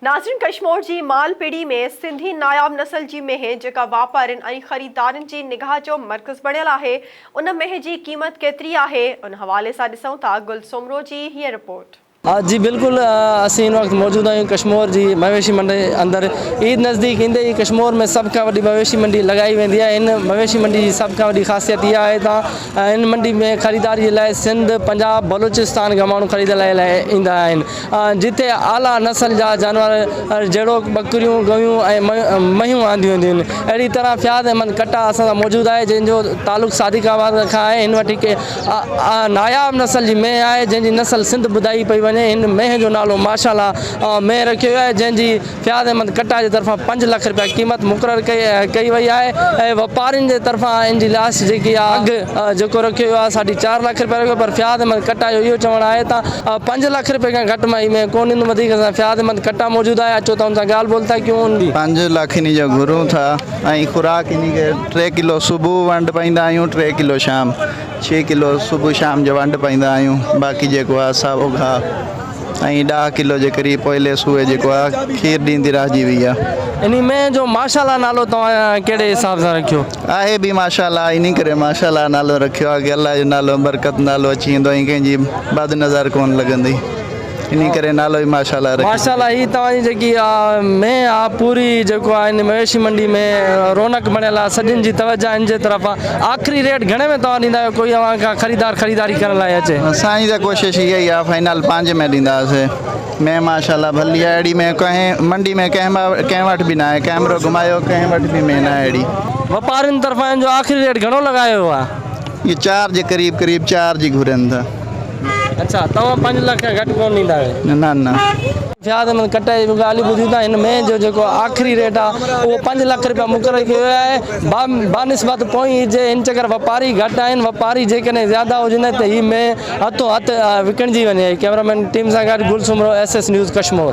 ناظرين ڪشمور جي مالپيڙي ۾ سنڌي ناياب نسل جي مينهن جيڪا واپارين ۽ خريدارن جي نگاهه جو مرڪز بڻيل آهي ان مينهن جي قيمت ڪيتري آهي ان حوالي سان ڏسون ٿا گل سومرو جي هيء رپورٽ. جي بلڪل اسين هن وقت موجود آهيون ڪشمور جي مويشي منڊي اندر عيد نزديڪ ايندي ئي ڪشمور ۾ سڀ کان وڏي مويشي منڊي لڳائي ويندي آهي هن مويشي منڊي جي سڀ کان وڏي خاصيت اها آهي ته هن منڊي ۾ خريداري جي لاء سنڌ پنجاب بلوچستان کان ماڻهو خريد لاء ايندا آهن جتي اعليٰ نسل جا جانور جهڙوڪ ٻڪريون، ڳئون ۽ مهيون آنديون وينديون آهن. اهڙي طرح فياض احمد ڪٽا اسان سان موجود آهي جنهن جو تعلق صادق آباد کان آهي. هن وٽ هڪ ناياب نسل جي مينهن آهي جنهن جي نسل سنڌ ٻڌائي پئي وڃي. هن مينهن جو نالو ماشاء الله مينهن رکيو ويو آهي جنهن جي فياض احمد ڪٽا جي طرفان پنج لک رپيا قيمت مقرر ڪئي وئي آهي ۽ واپارين جي طرفان ان جي لاش جيڪي اگھ جيڪو رکيو ويو آهي ساڍي چار لک رپيا رکيو پر فياض احمد ڪٽا جو اهو چوڻ آهي ته پنج لک رپين کان گھٽ مان ۾ ڪو نندم وڌيڪ اسان فياض احمد ڪٽا موجود آهي اچو ته ان سان ڳالھ ٻولھ ٿا ڪيون ان پنج لک ان جو گھرون ٿا ۽ خوراڪ ان کي ٽي ڪلو صبح ونڊ پائيندا آهيون ٽي ڪلو شام ڇهه ڪلو صبح شام جو ونڊ پائيندا آهيون باقي جيڪو آهي ساهو گاھ ۽ ڏاهه ڪلو جي قريب پوئلي سوئي جيڪو آ کير ڏيندي رهجي وئي آ. انهي مينهن جو ماشاالله نالو توهان ڪهڙي حساب سان رکيو؟ آهي به ماشاالله انهي ڪري ماشاالله نالو رکيو آ ڪي الله جو نالو برڪت نالو اچي ويندو ۽ ڪنهن جي بد نظر ڪونه لڳندي انهي ڪري نالو ئي ماشاالله رکيو. ماشاالله هي توهان جي جيڪي آ مينهن آ پوري جيڪو آ انهي مويشي منڊي ۾ رونق بڻيل آ سڀن جي توجه انهي جي طرف آ. آخري ريٽ گهڻي ۾ توهان ڏيندا آهيو ڪوئي اوهان کان خريدار خريداري ڪرڻ لاء اچي. سائين ته ڪوشش اها ئي آهي فائنل پانجهه ۾ ڏينداسي مين ماشا الله ڀلي آهي اهڙي مين ڪنهن منڊي ۾ ڪنهن مان ڪنهن وٽ به ناهي ڪئمرو گهمايو ڪنهن وٽ به مين ناهي اهڙي. واپارين طرفان هن جو آخري ريٽ گهڻو لڳايو ويو آهي. اهي چار جي قريب قريب چار جي گهرين ٿا. اڇا توهان پنج لک کان گهٽ ڪونه ڏيندا آهيو. نه نه. فياض احمد ڪٽر جي به ڳالهيون ٻڌيون ته هن مئي جو جيڪو آخري ريٽ آ اهو پنج لک رپيا مقرر ڪيو ويو آهي بانسبت پوئين عيد جي ان چڪر واپاري گهٽ آهن واپاري جيڪڏهن زياده هجن ته هي مئي هٿون هٿ وڪڻجي وڃي ڪئميرا مين ٽيم سان گڏ Gul Soomro S S news Kashmore.